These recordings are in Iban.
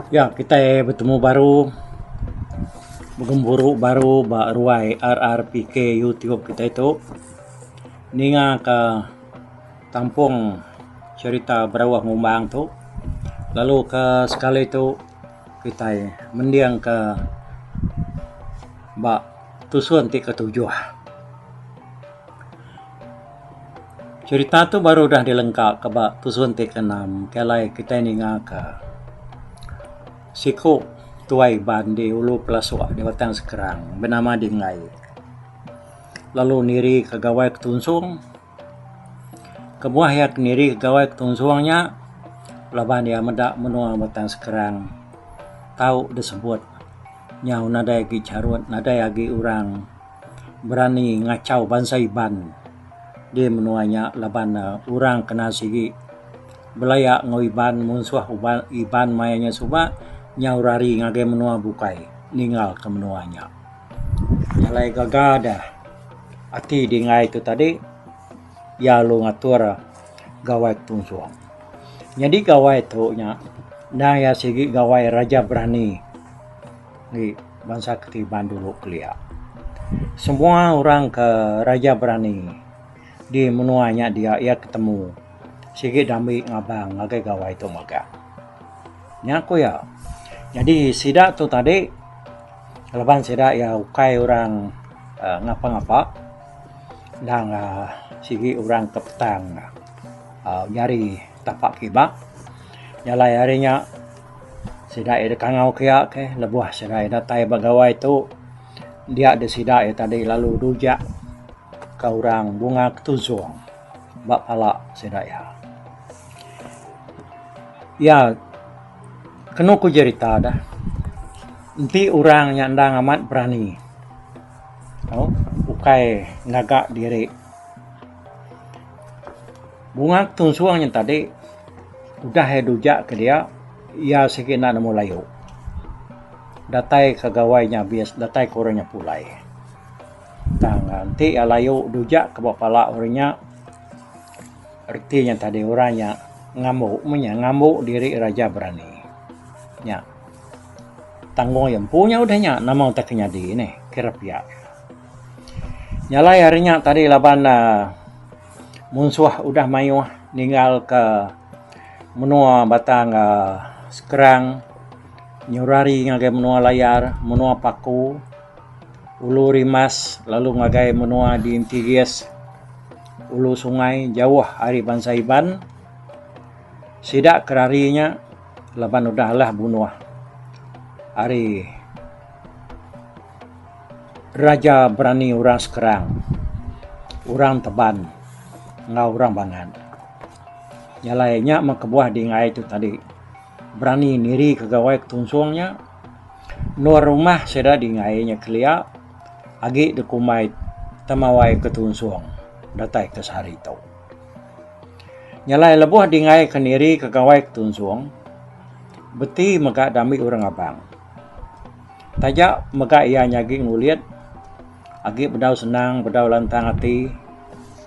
Ya kitai betemu baru begempuru baru ba ruai RRPK YouTube kitai tu ninga ka kampung cherita berauh ngumbang tu lalu ka sekali tu kitai mending ka ba tusun ti ketujuh. Cherita tu baru udah dilengka ka ba tusun ti keenam ke alai kitai ninga ka siku tuai Iban di ulu pelasok di batang sekerang benama Dingai lalu niri ka gawai ke tunsong kebuah iya ke niri ka gawai ke tunsong nya laban iya meda menua batang sekerang tau disebut nyau nadai agi charut nadai agi orang berani ngachau bansa Iban di menua nya laban orang kena sigi belaya enggau Iban munsuh Iban maya nya suba nyau rari ngagai menua bukai ninggal ke menua nya. Jalai gaga deh ati dingai tu tadi iya lalu ngatur Gawai Ketunsong. Nyadi Gawai tu nya endang iya sigi Gawai Raja Berani. Agi bansa Ketiban dulu kelia. Semua orang ke raja berani di menua nya dia iya ke temu sigi dambi ngabang ngagai gawai tu mega. Nya ku iya. Jadi sida tu tadi laban sida iya ukai orang aaa ngapa ngapa endang aaa sigi orang ke petang aaa nyari tapak kiba jalai ari nya Sida iya dikangau ke iya ke lebuh sida iya datai ba gawai tu dia deh sida iya tadi lalu rujak ka orang bunga ketusung ba pala sida iya. Iya kenu ku jerita deh enti orang nya endang amat berani tau ukai ngaga diri. Bunga Tun Sung nya tadi udah iya dujak ke dia iya sigi enda nemu layu datai ka gawai nya abis datai ka orang nya pulai tang enti iya layu dujak ka ba pala orang nya reti nya tadi orang nya ngambu mung nya ngambu diri raja berani nya tanggung iya empu nya udah nya nama utai ke nyadi ni kira pia. Nyalai ari nya tadi laban uhh munsuh udah mayuh ninggal ka menua batang uhh skrang nyurari ngagai menua layar menua paku ulu rimas lalu ngagai menua di intigis ulu sungai jauh ari bansa iban sida ke rari nya laban udah alah bunuh ari Raja berani orang sekerang, orang teban enggau orang bangat. Jalai nya meh kebuah dingai tu tadi berani nirika gawai ke tunsung nya. Endur rumah sida dingai nya kelia agi dikumbai temawai ke tunsung datai ke sehari tu. Jalai lebuh dingai ke nirika gawai ke tunsung beti mega dami orang abang. Taja mega iya nyagi ngulit agi bedau senang bedau lantang ati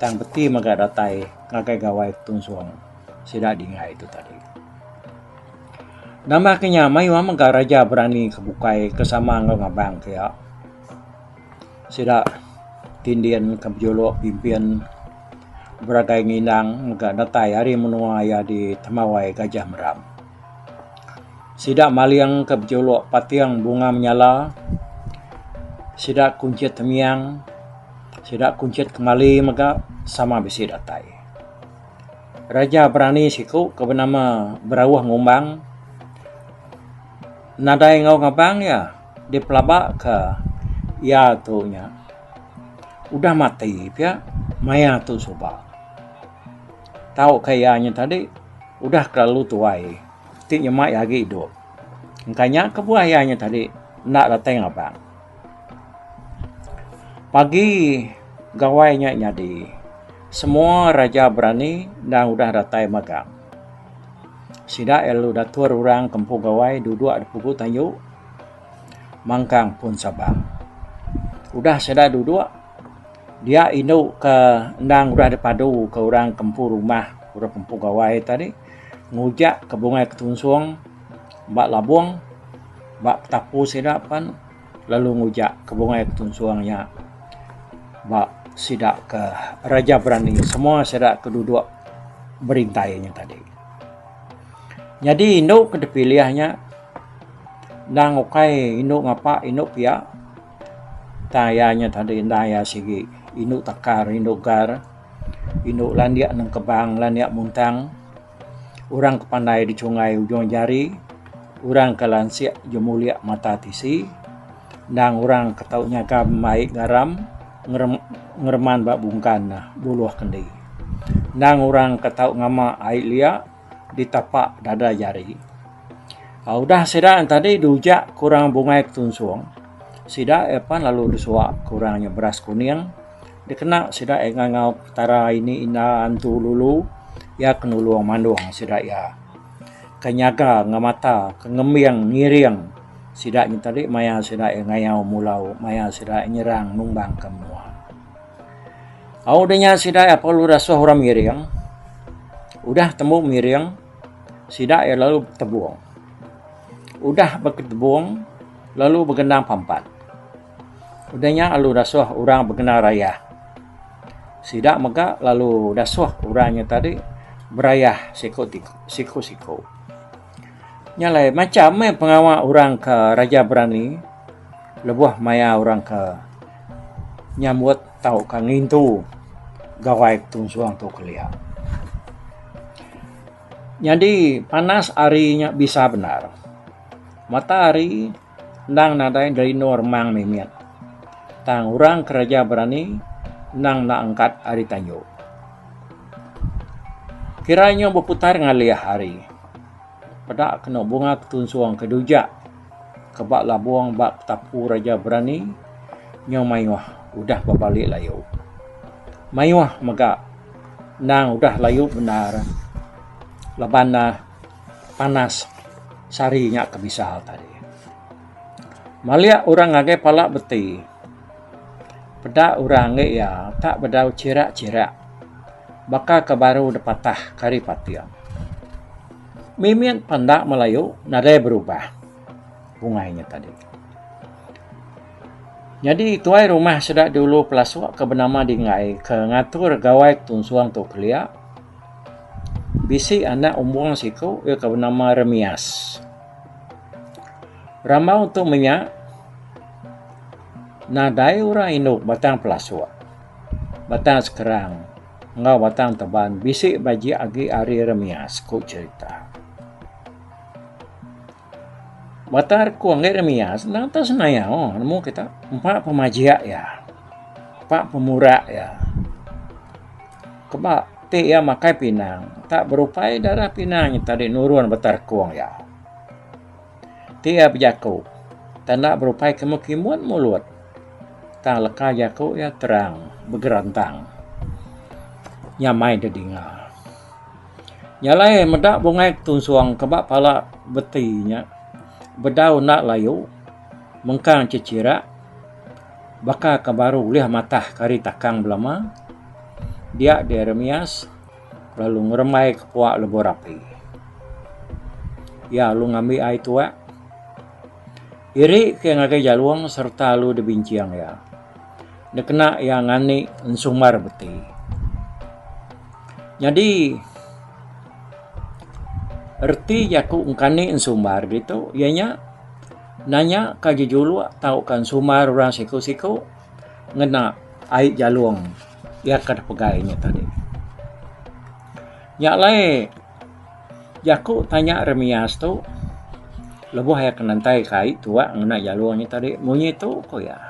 tang beti mega datai ngagai gawai tunsung sida dingai tu tadi. Nambah ke nya mayuh mega raja berani ke bukai ke sama enggau ngabang ke iya. Sida ti ndin ke bejuluk pimpin beragai ngindang mega datai ari menua iya di Temawai Gajah Meram. Sida maling ke bejuluk Pating Bunga Menyala, sida kunchit temiang, sida kunchit kemali mega sama bisi datai. Raja berani siku ke benama Berauh Ngumbang nadai enggau ngebang iya dipelabaka iya tu nya udah mati pia maya tu suba. tauka iya nya tadi udah kelalu tuai ti nyema iya agi idup. Engka nya kebuah iya nya tadi enda datai ngabang. Pagi gawai nya nyadi semua raja berani endang udah datai magang. Sida iya lalu datur orang ke empu gawai duduk di pugu tayu mangkang pun Sabang. Udah sida duduk Dia indu ke endang udah dipadu ke orang ke empu rumah, orang ke empu gawai tadi ngujak ke bungai ke tunsong ba labong ba petapu sida pen lalu ngujak ke bungai ke tunsong nya ba sida ke Raja Berani semua sida ke dudok berintai nya tadi. Nyadi indu ke dipilih nya endang ukai indu ngapa indu pia. Tang iya nya tadi enda iya sigi indu takar indu gar indu landik neng kebang landik muntang orang ke pandai dichungai ujung jari orang ke lansik jemulik mata tisi endang orang ke tau nyaga mai garam ngereman ba bungkan buluh kendi endang orang ke tau ngama ai liak. ditapak dada jari. Uh, udah sida yang tadi diujak ke orang bungai ketunsung, sida epan lalu disuak ke orang yang beras kuning, dikena sida yang ngangau petara ini inda antu lulu, ya ke nulung mandung sida ya, ke nyaga ngemata ke ngembing ngiring sida nyen tadi maya sida ngayau mulau, maya sida nyerang numbang ke menua. Au udah nya sida iya perlu rasuh orang miring. Udah tembu miring, sida iya lalu betebung. Udah betebung, lalu begenang pampat. Udah nya lalu rasuh orang begenang rayah. Sida mega lalu rasuh orang nya tadi berayah siku-siku. Nya alai macam meh pengawa orang ke raja berani lebuh maya orang ke nyambut tauka ngintu Gawai Ketunsong tu kelia. Nyadi panas hari nya bisa bendar. Matahari. Endang nadai ngerindu remang mimit. Tang orang kereja berani endang enda angkat ari tanju. Kira inyo beputar ngalih hari. Peda kenu bunga ketunsong ke dujak ke ba labong ba petapu reja berani nyo maioh udah bebali laio. Maioh mega endang udah laio bendar laban neh. panas sari nya ke bisa tadi. Maliak orang ngagai pala beti. Peda orang ngi iya tak bedau chirak-chirak baka ke baru dipatah kari pating. Mimit panda Melayu nadai berubah bungai nya tadi. Nyadi tuai rumah sida dulu pelasuk ke benama Dinggai ke ngatur gawai ke tunsung tu kelia. Bisi anak umbung siku iya ke benama Remias. Rambau tu menya nadai orang indu Batang Pelasok, Batang Sekerang enggau Batang Teban bisi bejek agi ari Remias, ku cherita. Batar ku anggai ram iya senang tau senayau nemu kita empa pemajak iya. Empa pemurak iya. Keba ti iya makai pinang tak berupai darah pinang nyata di nurun batar kung iya. Ti iya bejaku tak enda berupai kimun kimun mulut tang leka jaku iya terang begerantang nyamai didinga. Nyalai meda bungai ketunsong ke ba pala beti nya bedau enda layu mengkang chechira baka ke baru ulih matah ke ari takang belama dia Jeremias lalu ngerembai ke puak lebuh rapi. Iya lalu ngambi ai tuak. Iri ke ngagai Jalong sereta alu dibincing iya dikena iya ngani ensumbar beti. Nyadi reti jaku engkani ensumbar ditu iya nya nanya ka jejuluk tauka ensumbar orang siku-siku ngena ai Jalong iya ke dipegai nya tadi. Nya alai Jaku tanya Remias tu lebuh iya ke ngentai ke ai tuak ngena jalur nya tadi munyi tu ku iya.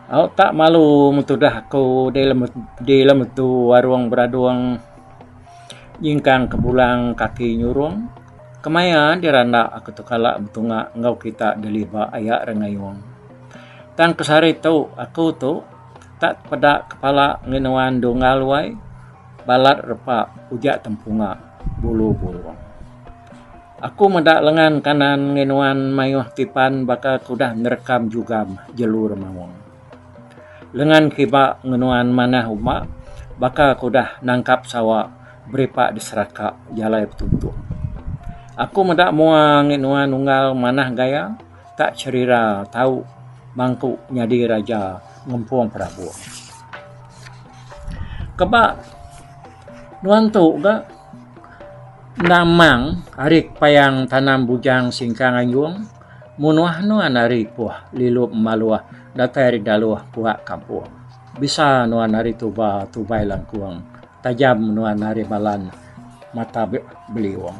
Au tak malu metudah aku dei lem dei lem tu warung beradung nyingkang ke bulang kaki nyurung kemaya dira enda aku tu kala betunga enggau kita deliver aya re ngeyung. Tang ke sehari tu aku tu Tak peda kepala ngi nuan Dunggal wai, balat repa uja tempunga bulu burung. Aku meda lengan kanan ngi nuan mayuh ti pan baka ke udah nerekam jugam jelu remaung. Lengan kiba ngi nuan manah uma baka ke udah nangkap sawa beripa di seraka jalai betuntung. Aku meda mua ngi nuan unggal manah gaya. ka cherira tau mangku nyadi raja ngempung perabot. Keba nuan tu ga enda amang ari payang tanam bujang singkang anjung munuh nuan ari puh lilup maluh datai ari daluh puak kampung. Bisa nuan ari tuba tubai langkung tajam nuan ari balan. mata beliung.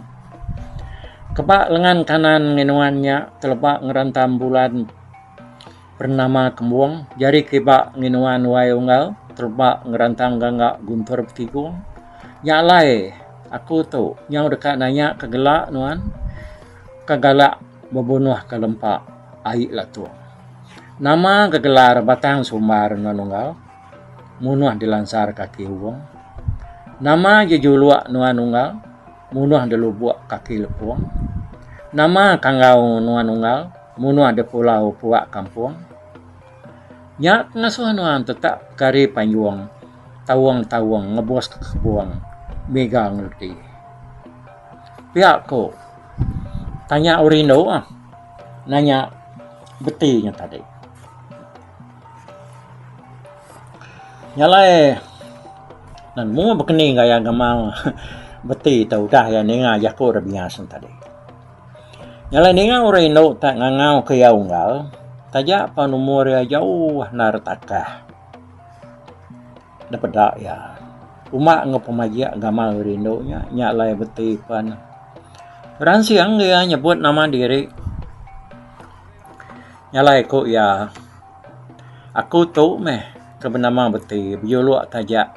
Keba lengan kanan nginuan nya teleba ngerentam bulan bernama kembung, jari kiba nginuan wai unggal teleba ngerentam gangga guntur betigung. Nya alai aku tu nyau deka nanya ke gela nuan ke gala bebunuh ke lempa ai latung. Nama gegelar batang sumbar nuan unggal? Munuh dilansar kaki Hubung. Nama ji juluk nuan unggal? Munuh dilubuk kaki Lepung. Nama kanggau nuan unggal? Munuh dipulau puak kampung. Nya pengasuh nuan tetap kari panjung, taung-taung ngebus ke kebung miga ngeluti. Pia ku, tanya rindu nanya beti nya tadi. Nyalai nan mung bekeni enggau iya ngemau beti te udah iya ninga jaku rak biya sen tadi. Nyalai ninga orang indu te ngangau ke iya unggal taja pen umur iya jauh endar takah da peda iya. Uma enggau pemajik gamal orang indu nya nya alai beti pen beransing iya nyebut nama diri. Nya alai ku iya, Aku tu meh ke benama beti bejuluk taja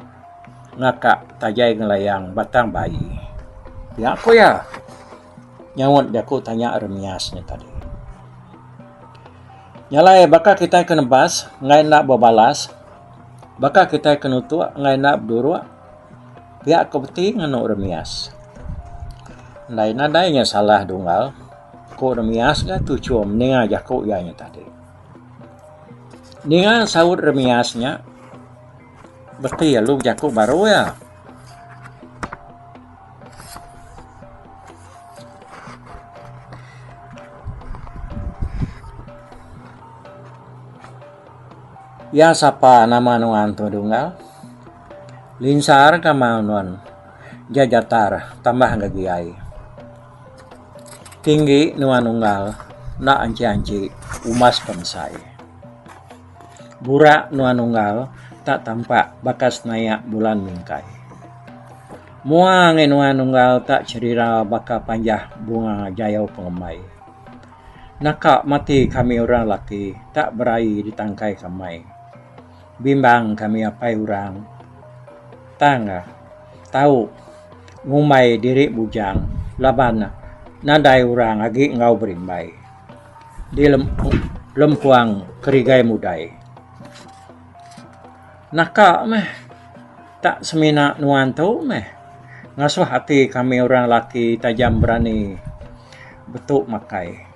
ngaka tajai ngelayang batang bayi. Nya ku iya nyaut jaku tanya remias nya tadi. Nya alai baka kitai ke nebas enggai enda bebalas, baka kitai ke nutuk enggai enda beduruk, pia ku beti ngenu remias. Ndai nadai nya salah dunggal. Ko Remias ga tu chum ninga jaku iya nya tadi. Ninga saut Remias nya beti alu bejaku baru iya. Iya sapa nama nuan tu Dunggal? Linsar ka mau nuan ja Jatar tambah ga giai. Tinggi nuan unggal enda anchi-anchi umas bensai. Burak nuan unggal enda tampak baka senayak bulan mingkai. Mua angai nuan unggal enda cherira baka panjah bunga jayau pengemai. Naka mati kami orang laki enda beraie di tangkai kamai. Bimbang kami apai orang tang. Tau ngumbai diri bujang laban nadai orang agi enggau berimbai di lempung kerigai mudai. Naka meh tak semina nuan tu meh ngasuh ati kami orang laki tajam berani betu makai.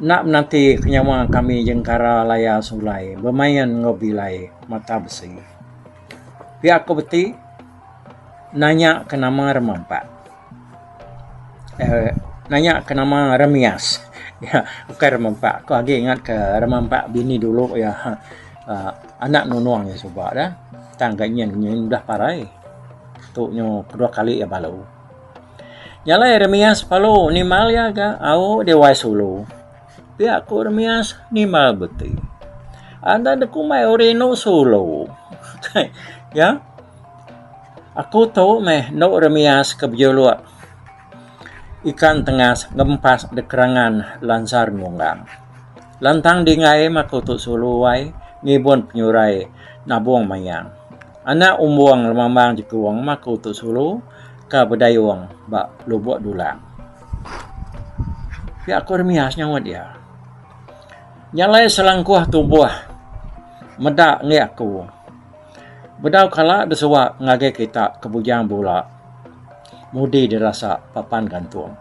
Enda menanti ke nyawa kami jengkara laya sulai bemain enggau bilai mata besi. Pia aku beti nanya ke nama remampak uhh nanya ke nama remias bukai remampak aku agi ingat ke remampak bini dulu iya uhh anak nunung iya suba da tang ga nyin nyin udah parai tu nyu kedua kali iya balu. Nya alai remias balu nimbal iya ga au Dewa Sulu. Ti aku remias nimbal beti. Anda da kumbai ori endo sulu. ya. Aku tu meh endo remias ke bejuluk ikan tengas ngempas da kerangan lansar nunggang. Lantang dinggai meh aku tu sulu ai ngibun penyurai nabung mayang. Anak umbung lemambang jekung meh aku tu sulu ka bedayung ba lubok dulang. Pia aku ri mia senyaut iya. Nya alai selangkuh tubuh meda enggi aku. Bedau kala deh suwa ngagai kita ke Bujang Bula mudi deh rasa papan gantung.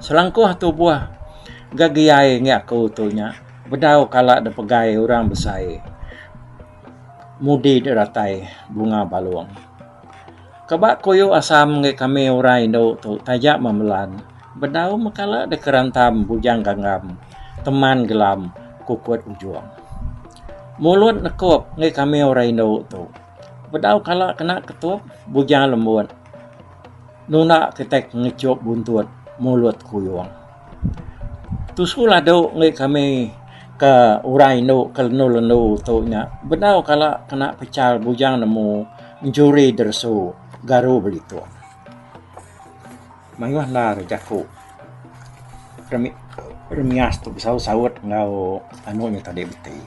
Selangkuh tubuh gegiai enggi aku tu nya bedau kala deh pegai orang besai mudi deh ratai bunga balung. Ke ba koyo asam enggai kami orang indu tu taja memelan bedau mekala deh kerantam bujang ganggam teman gelam kukut ujong. Mulut nekup enggai kami orang indu tu bedau kala kena ketup bujang lembut nunda kitai ngechup buntut mulut kuyong. Tu sekulah dau ngagai kami ke orang indu ke lendu lendu tu nya bedau kala kena pecal bujang nemu njuri deresu garu belituk. Mayuh enda ari jaku remi remias tu besaut saut enggau anu nya tadi beti.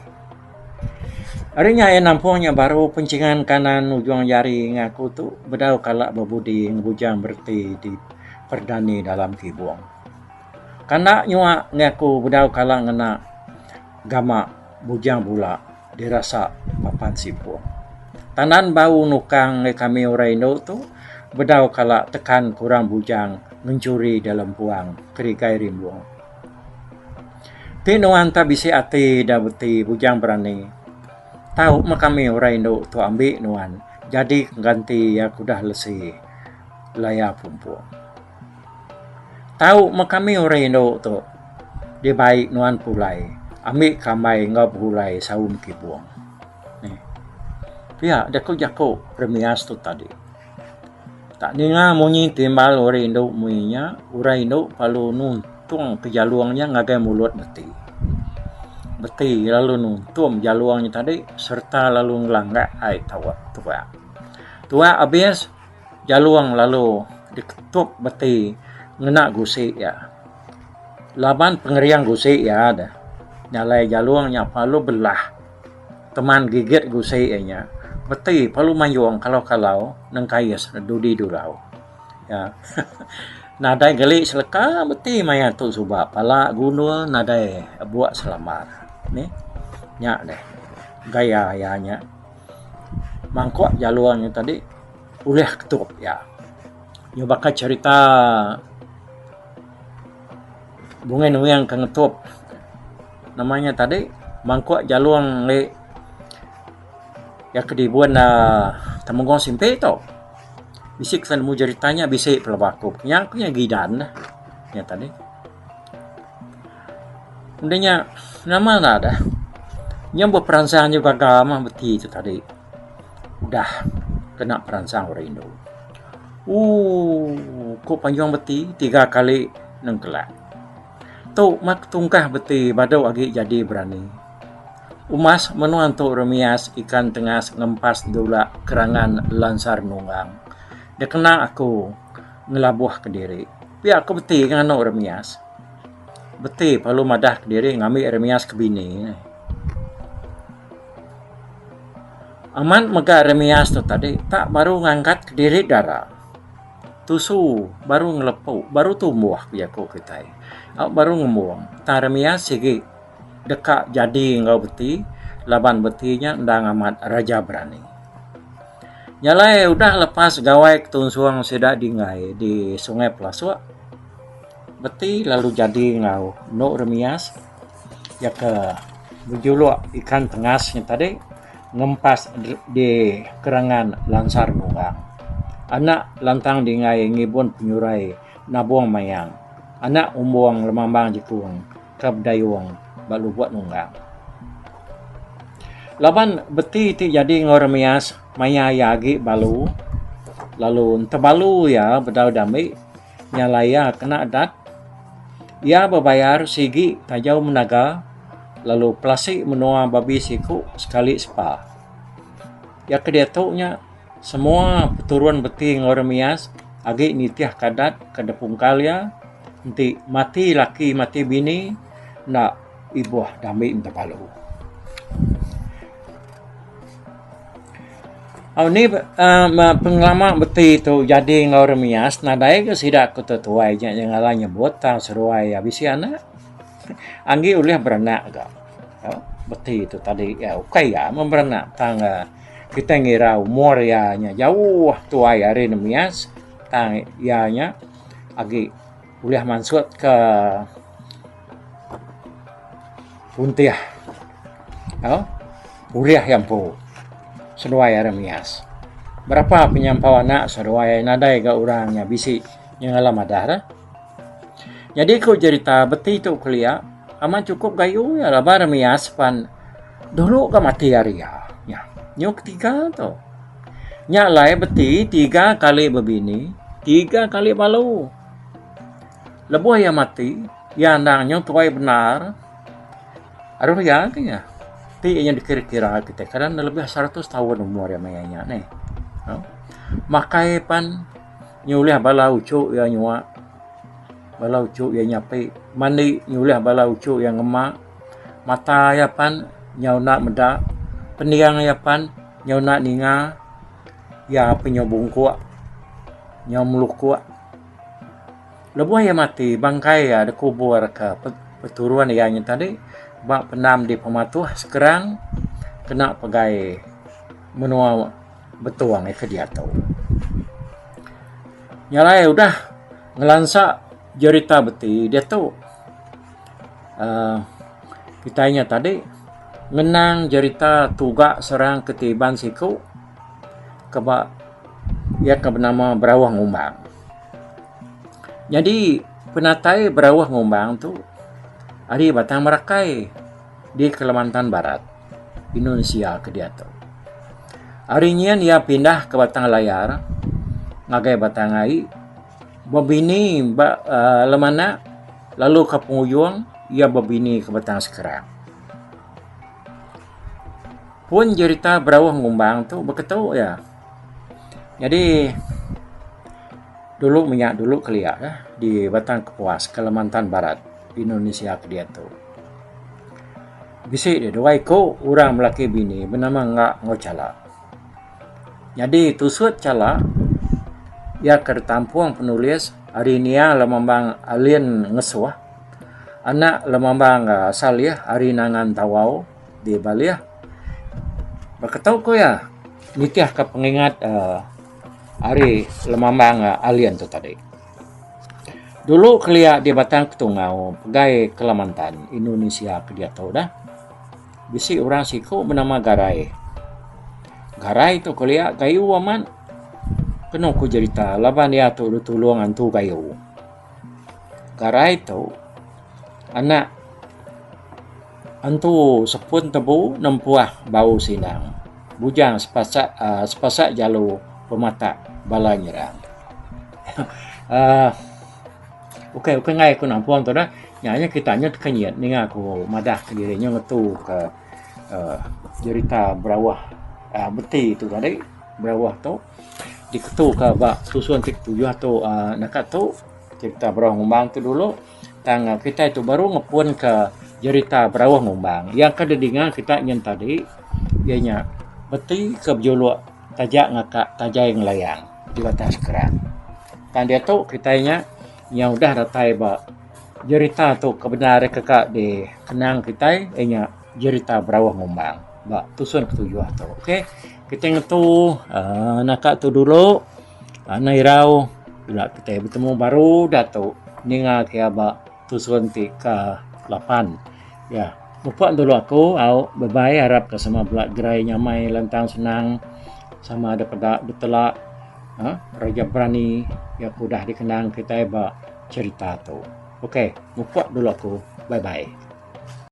Ari nya iya nampung nya baru pencingan kanan ujung jari ngaku tu bedau kala bebudi ngebujang bereti di. Perdani dalam kibung. Kana nyua ngi aku bedau kala ngena gama bujang bula dirasa papan sipung. Tanan bau nukang ngi kami orang indu tu bedau kala tekan kurang bujang ngenchuri dalam puang kerigai rimbung. Ti nuan ta bisi ati da beti bujang berani. Tau meh kami orang indu tu ambi nuan jadi pengganti iya ke udah lesi. Laya pumpung. Tau meh kami orang indu tu. Dibai nuan pulai ambi kambai enggau begulai saum kibung. Pia jaku jaku remias tu tadi. Tak ninga munyi timbal orang indu mui nya, orang indu perlu nuntung ke jalung nya ngagai mulut beti. Beti lalu nuntum jalung nya tadi sereta lalu ngelanggak ai tau tuak. Tuak abis. Jalung lalu diketup beti ngena gusi iya. Laban pengering gusi iya deh, nyalai jalung nya pelalu belah keman gigit gusi iya nya. Beti pelalu mayung kalau-kalau nengkais dudi dulau. Nadai geli seleka beti maya tu suba pala gundul nadai buk selambar. Nya deh gaya iya nya. mangkuk jalur nya tadi ulih ke tu iya. Iya baka cherita Bungin Wing ke ngetup nama nya tadi mangkuk jalur enggai iya ke dibun aaa Temenggong Simpi tu. Bisi ke nemu cherita nya bisi pelaba ku. Nya ku nya gidan nya tadi. Enda nya nama lalu udah nya beperansang nya gaga mah beti tu tadi udah kena peransang orang indu ooh ku panjung beti tiga kali nengkelak tu mah ketungkah beti badu agi jadi berani umas menua tu remias ikan tengas ngempas dula kerangan lansar nunggang dikena aku ngelabuh kediri. Pia aku beti ke nganu remias. Beti perlu madah ke diri ngambi remias ke bini. Amat mega remias tu tadi tak baru ngangkat ke diri dara. Tusu baru ngelepu, baru tumbuh bagi aku kitai. Au baru ngembung tang remias sigi. deka jadi enggau beti laban beti nya endang amat raja berani. Nya alai udah lepas gawai ketunsung sida dinggai di Sungai Pelasok beti lalu jadi enggau endo remias iya ke bejuluk ikan tengas nya tadi ngempas di kerengan Lansar Bungang. Anak lantang dinggai ngibun penyurai Nabong Mayang anak Umbong Lemambang Jekung. Ka bedayung ba lubuk nunggang. Laban beti ti jadi enggau Remias maya iya agi balu lalu enti balu iya bedau diambi nya alai iya kena adat. Iya bebayar sigi tajau menaga lalu pelasi menua babi siku sekali sepa. Iya ke diatu nya. Semua peturun beti enggau remias agi nitihka adat ke dipungkal iya enti mati laki mati bini enda ibuh dami bepalu. Anih uhh pengelama beti tu jadi enggau remias nadai ga sida ke tetuai nya ngagai nyebut tang seruai iya bisi anak anggi ulih beranak ga beti tu tadi ukai iya meh beranak tang ga Kitai ngira umur iya nya jauh tuai ari ne Mias tang iya nya agi ulih mansut ke puntih tau ulih iya empu seduai ari Mias. Berapa penyampau anak seduai nadai ga orang nya bisi nyengala madah re. Nyadi ku jerita beti tu kelia amat chukup gayu iya laban remias pan dulu ga mati ari iya nya. Nyuh ke tiga tu nya alai beti tiga kali bebini tiga kali balu. Lebuh iya mati iya endang nyuh tuai bendar aruh iya ke nya ti iya dikira kira kitai ke lebih seratus taun umur iya maya nya neh makai pan. Nyulih bala uchu iya nyua. Bala uchu iya nyapi. Mandi nyulih bala uchu iya ngema. Mata iya pan nyau enda meda. Pening iya pan nyau enda ninga. Iya pun nyau bungkuk, nyau melukuk. Lebuh iya mati, bangkai iya dikubur ke peturun iya nya tadi ba pendam di Pematuh, Skrang kena pegai menua. Betong ai ke diatu. Nya alai udah ngelansa jerita beti diatu uhh kitai nya tadi ngenang jerita tuga serang ke ti iban siku ke ba iya ke benama Berawuh Ngumbang. Nyadi penatai Berawuh Ngumbang tu ari Batang Merakai di Kelemantan Barat. Indonesia ke diatu. Ari nyin iya pindah ke Batang Layar ngagai Batang Ai bebini ba uh, Lemanak lalu ke pengujung iya bebini ke Batang Sekerang. Pun jerita berauh ngumbang tu beketu ya. Jadi dulu menya dulu kelia ya, di Batang Kepuas, Kalimantan Barat, Indonesia ke diatu. Bisi dia dua iku urang belaki bini benama Nga enggau Chala. Nyadi tusut Chala iya ke ditampung penulis ari nia Lemambang Alien Ngesuh, anak Lemambang Salih ari Nangan Tawau di Baleh. Beketu ku iya nitihka pengingat ari Lemambang Alien tu tadi. Dulu kelia di Batang Ketungau, Pegai Kelamantan, Indunisia ke diatu dah, bisi orang siku benama Garai. Garai tu kelia gayu amat. Kenu ku jerita laban iya tu ditulung antu gayu. Garai tu anak. Entu sepun tebu nempuah bau silang. Bujang sepasak sepasak jalu pematak bala nyerang. Aaa ukai ukai angai aku nampung tu nah. Nya nya kita nyut ke nyit ninga aku madah ke diri nyau ngetu ke aaa jerita berawah aaa beti tu tadi berawah tu diketu ke ba susun ti ketujuh tu aaa naka tu jerita berawah ngembang tu dulu. Tang kitai tu baru ngepunka jerita berauh numbang. Iya ke didinga kitai nyin tadi iya nya beti ke bejuluk taja ngaka tajai ngelayang di batang sekera. Tang diatu kitai nya yang udah datai ba jerita tu ke bendar iya keka dikenang kitai iya nya jerita berauh numbang ba tusun ketujuh tu. Okey kitai ngetu aaa naka tu dulu. Tanah irau ila kitai betemu baru diatu ninga kia ba tusun ti ke lapan. Ya, mupuk dulu aku au bye bye arap ke sama bala gerai nyamai lantang senang sama dep peda betela aaa reja berani ya ke udah dikenang kitai ba cherita tu. Okey mupuk dulu aku bye bye.